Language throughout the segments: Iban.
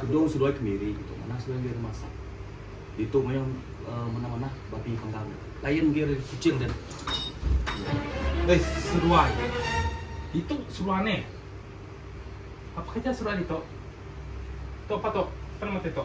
Kedung seduai kemiri kitu manah seduai enggai bemasak. Ditu mayuh manah-manah babi panggang deh. Lain enggai ari Kuching deh. Uis seduai. Ditu seduai neh. Apa kerja seduai ditu? Tu apa tu? Apa nama ti tu?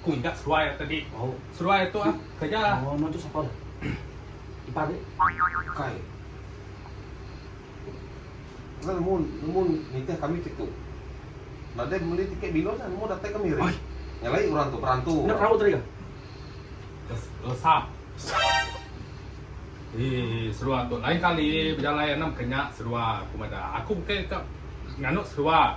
Ku ingat seruai aku tadi. Seruai aku tu ah kereja. Oh anu tu sapa dah. Iban nya bukai. Enda nemu nemu nitih kami ti tu. Nadai meli tiket bilun nya nemu datai kami hari. Nyelai orang tu perantu. Enda perahu tadi kah? Lesap. Eii seruai aku. Lain kali bejalai anang ke nya seruai aku meda. Aku bukai ka nganu seruai.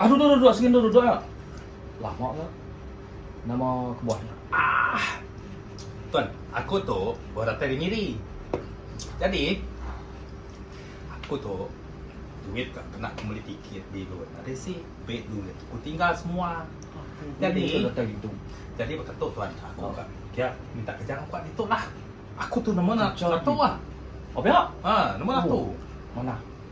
Aduh duh duh duh sengin duh duh duh ah. Lama ke? Nama kebuah nya? Ah. Tuan, aku tu baru datai dari Miri. Jadi aku tu duit ka kena aku beli tiket bilun. Ada si beg duit aku tinggal semua. Jadi datai gitu. Jadi baka tu tuan, aku oh. ka dia minta kerja aku kat ditu lah. Aku tu nama nak kerja tu ah. Apa ya? Ha, nama nak tu. Mana?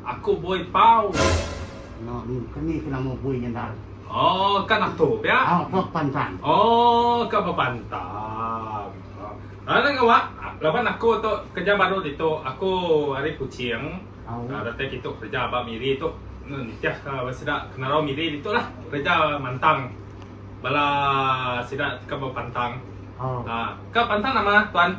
Aku buoy pau. Nya min keni ke nama buoy nyendal. Oh ka natu pia. Oh ka pantang. Oh ka bepantang. Alah nya wak laban aku tu kerja baru ditu aku ari kuching datai kitu kerja ba miri tu nitih ka ba sida kenarau miri ditu lah kerja mantang bala sida ka bepantang. Ka pantang nama tuan.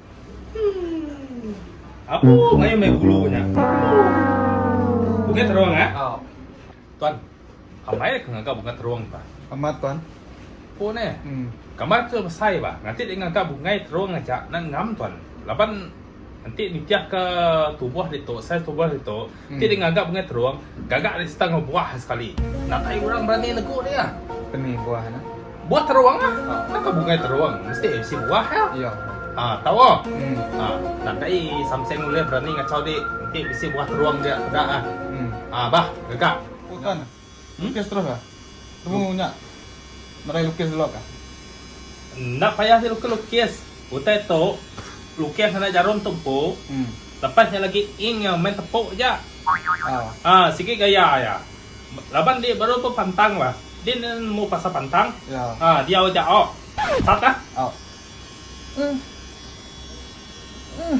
Apu ngayu meh gulu nya. Bunga terong eh. Oh. Tuan. Amai ke ngaga bunga terong bah. Amat tuan. Pun eh. Hmm. Kamar ke besai bah. Nanti dia ngaga bunga terong aja nak ngam tuan. Laban nanti nitih ke tubuh ditu, sel tubuh ditu. Ti deh ngaga Bengai Terong gaga ari setengah buah sekali. Nakai orang berani negu dia? Peni buah nya? Buah terong lah. Naka Bengai Terong mesti bisi buah ya. Iya. Ha tau ah. Hmm. Ha nakai samseng ulih berani ngachau di enti bisi buah terong dia peda ah. Hmm. Ha bah gaga. Utan. Lukis terus ka. Temu nya nadai lukis dulu ka. Enda payah nya lukis lukis. Utai tu lukis ngagai jarum tu empu. Lepas nya lagi ink nya main tepu aja. Aa sigi gaya iya. Laban andi baru pun pantang bah. Din enda nemu pasal pantang. Aa diau aja awk. Start ka. Awk. Ugh. Ugh.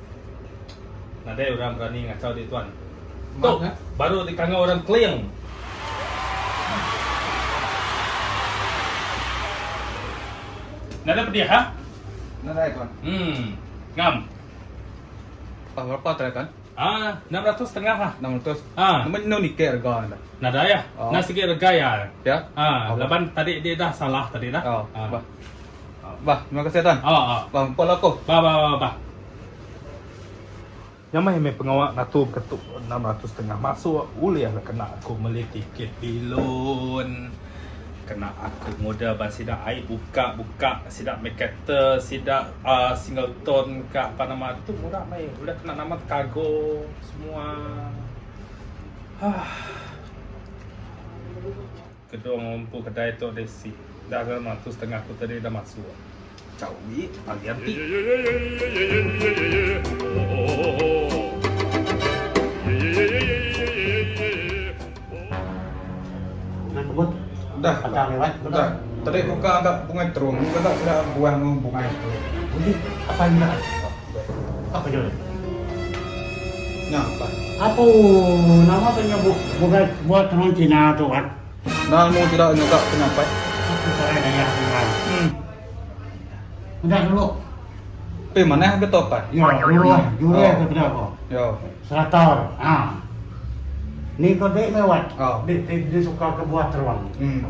Nadai orang berani ngachau diri tuan. Tu baru dikanga orang Kling. Nadai pedih ha? Nadai tuan. Hmm. Ngam. Tang berapa tadi tuan? Ah, enam ratus setengah ha. Enam ratus. Ha. Nama enda nitih rega anda? Nadai ya. Oh. Nah sigi rega ya. Ya. Ha, oh. laban tadi dia dah salah tadi dah. Oh. Ha. Bah. Bah, terima kasih Tan. Oh, oh. Bah, empat lah aku. Bah, bah, bah, bah. Yang main main pengawa ngatur ketuk 600 setengah masuk ulih lah kena aku meli tiket bilun. Kena aku modal ban sida ai buka-buka sida main kereta sida uh, single tone ka apa nama tu murah mai udah kena nama cargo semua. Ah. Kedung empu kedai tu deh isi. Dah ke mah tu setengah aku tadi dah masuk. Chau we pagi anti. Apa nya ulih? Nya pan. Apu, nama ke nya bu bukai buat tenun Cina tu kan? Nah mu tidak nyegak penyapai. Aku serai daya senang. Hmm. Udah dulu. Tapi mana yang betul pan? Ya, dulu lah. Dulu lah kita apa? Ya. Serator. Ha. Ni kau dek mewat. Ha. Dek, dek, dek suka kebuat teruang. Hmm.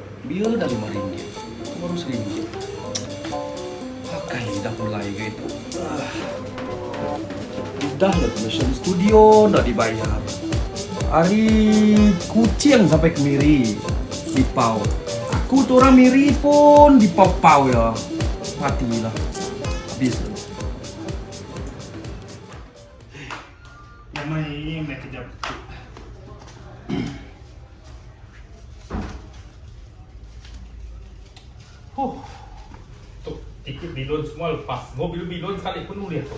Bia dah lima ringgit, tu baru seribu. Akai dah pulai ga itu. Udah le commission studio enda dibayar. Ari Kuching sampai ke Miri dipau. Aku tu orang Miri pun dipau-pau iya. Mati lah. Habis. Iya mai iya mai kerja pekit. Huh. Tu tiket bilun semua lepas. Mau bilun bilun sekali pun ulih tu.